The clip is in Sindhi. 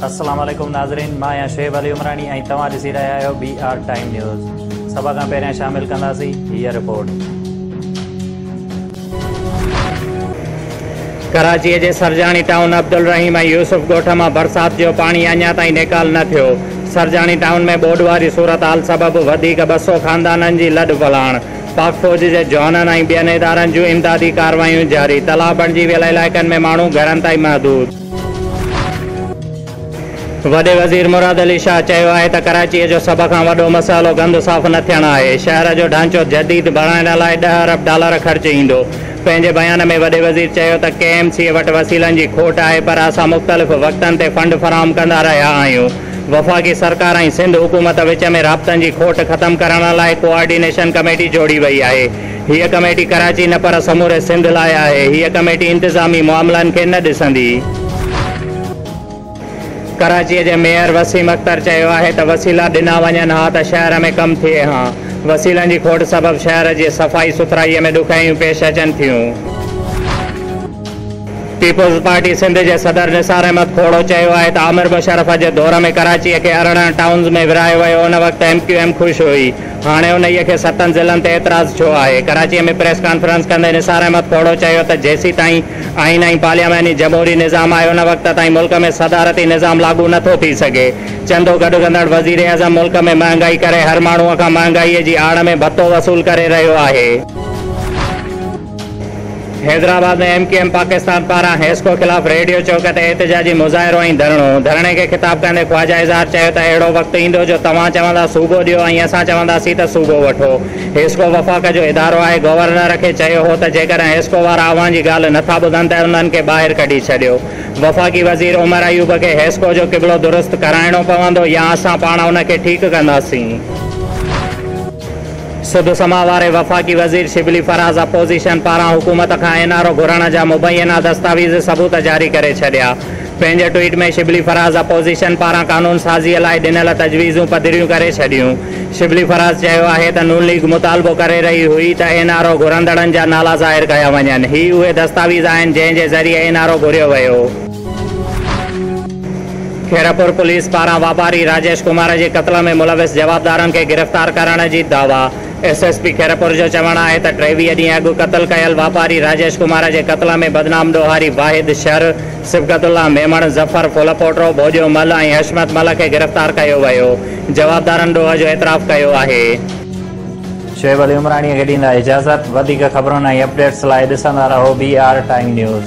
السلام عليڪم ناظرين مان آهيان شعيب علي عمراڻي ۽ توهان ڏسي رهيا آهيو بي آر ٽائيم نيوز سڀ کان پهريان شامل ڪنداسين هيء رپورٽ ڪراچي جي سرجاڻي ٽائون عبدالرحيم ۽ يوسف ڳوٺ مان برسات جو پاڻي اڃا تائين نيڪال نه ٿيو سرجاڻي ٽائون ۾ ٻوڏ واري صورتحال سبب وڌيڪ ٻه سؤ خاندانن جي لڏ پلاڻ پاڪ فوج جي جوانن ۽ ٻين ادارن جون امدادي ڪارروايون جاري، تلاء بڻجي ويل علائقن ۾ ماڻهو گهرن تائين محدود. وڏي وزير مراد علي شاهه چيو آهي ته ڪراچيء جو سڀ کان وڏو مسئلو گند صاف نه ٿيڻ آهي، شهر جو ڍانچو جديد بڻائڻ لاء ڏهه ارب ڊالر خرچ ايندو، پنهنجي بيان ۾ وڏي وزير چيو ته ڪي ايم سي اي وٽ وسيلن جي کوٽ آهي پر اسان مختلف وقتن تي فنڊ فراهم ڪندا رهيا آهيون، وفاقي سرڪار ۽ سنڌ حڪومت وچ ۾ رابطن جي کوٽ ختم ڪرڻ لاء ڪوآرڊينيشن ڪميٽي جوڙي وئي آهي، هيء ڪميٽي ڪراچي نه پر سموري سنڌ لاء آهي، هيء ڪميٽي انتظامي معاملن کي نه ڏسندي. ڪراچيء جي ميئر وسيم اختر چيو آهي ته وسيلا ڏنا وڃن ها ته شهر ۾ ڪم ٿئي ها، وسيلن جي کوٽ سبب شهر جي صفائي سٿرائيء ۾ ڏکيائيون پيش اچن ٿيون. پيپلز پارٽي سنڌ جي صدر نثار احمد کوڙو چيو آهي ته آمر مشرف جي دور ۾ ڪراچيء کي ارڙهن ٽائونز ۾ ورهايو ويو، ان وقت ايم ڪيو ايم خوش هئي، هاڻي انهيء کي ستن ضلعن تي اعتراض ڇو آهي؟ ڪراچيء ۾ پريس ڪانفرنس ڪندي نثار احمد کوڙو چيو ته جيسيتائين آئين ۽ پارلياماني جمهوري نظام آهي ان وقت تائين ملڪ ۾ صدارتي نظام لاڳو نه ٿو ٿي سگهي. چندو گڏ ڪندڙ وزيراعظم ملڪ ۾ مهانگائي ڪري هر ماڻهوء کان مهانگائيء جي آڙ ۾ ڀتو وصول ڪري رهيو آهي. Hyderabad ۾ M Q M Pakistan پاران حيسڪو خلاف ريڊيو چوڪ تي احتجاجي مظاهرو ۽ ڌرڻو، ڌرڻي کي خطاب ڪندي خواجه اظهار چيو ته اهڙو وقت ايندو جو توهان چوندا صوبو ڏيو ۽ اسان چونداسين ته صوبو وٺو، حيسڪو وفاق جو ادارو آهي، گورنر کي چيو هو ته جيڪڏهن حيسڪو وارا اوهان جي ڳالهه نه ٿا ٻڌن ته انهن کي ٻاهر ڪڍي ڇڏيو، وفاقي وزير عمر ايوب کي حيسڪو جو قبلو درست ڪرائڻو پوندو يا اسان پاڻ ان کي ٺيڪ ڪنداسين. سڌ سماء واري وفاقي وزير شبلي فراز اپوزيشن پاران حڪومت کان اين آر او گهرڻ جا مبينا دستاويز ثبوت جاري ڪري ڇڏيا. پنهنجي ٽوئيٽ ۾ شبلي فراز اپوزيشن پاران قانون سازي لاء ڏنل تجويزون پڌريون ڪري ڇڏيون. شبلي فراز چيو آهي ته نون ليگ مطالبو ڪري رهي هئي ته اين آر او گهرندڙن جا نالا ظاهر ڪيا وڃن، هي اهي دستاويز آهن جنهن جي ذريعي اين آر او گهريو ويو. خيرپور پوليس پاران واپاري راجيش ڪمار جي قتل ۾ ملوث جوابدارن کي گرفتار ڪرڻ جي دعويٰ، ايس ايس پي خيرپور جو چوڻ آهي ته ٽيويهه ڏينهن اڳ قتل ڪيل واپاري راجيش ڪمار جي قتل ۾ بدنام ڏوهاري واحد شر، صبغت الله ميمڻ، ظفر ڦولپوٽرو، ڀوڄو مل ۽ حشمت مل کي گرفتار ڪيو ويو، جوابدارن ڏوهه جو اعتراف ڪيو آهي. شعيب علي عمراڻيء کي ڏيندا اجازت، وڌيڪ خبرن ۽ اپڊيٽس لاء ڏسندا رهو بي آر ٽائيم نيوز.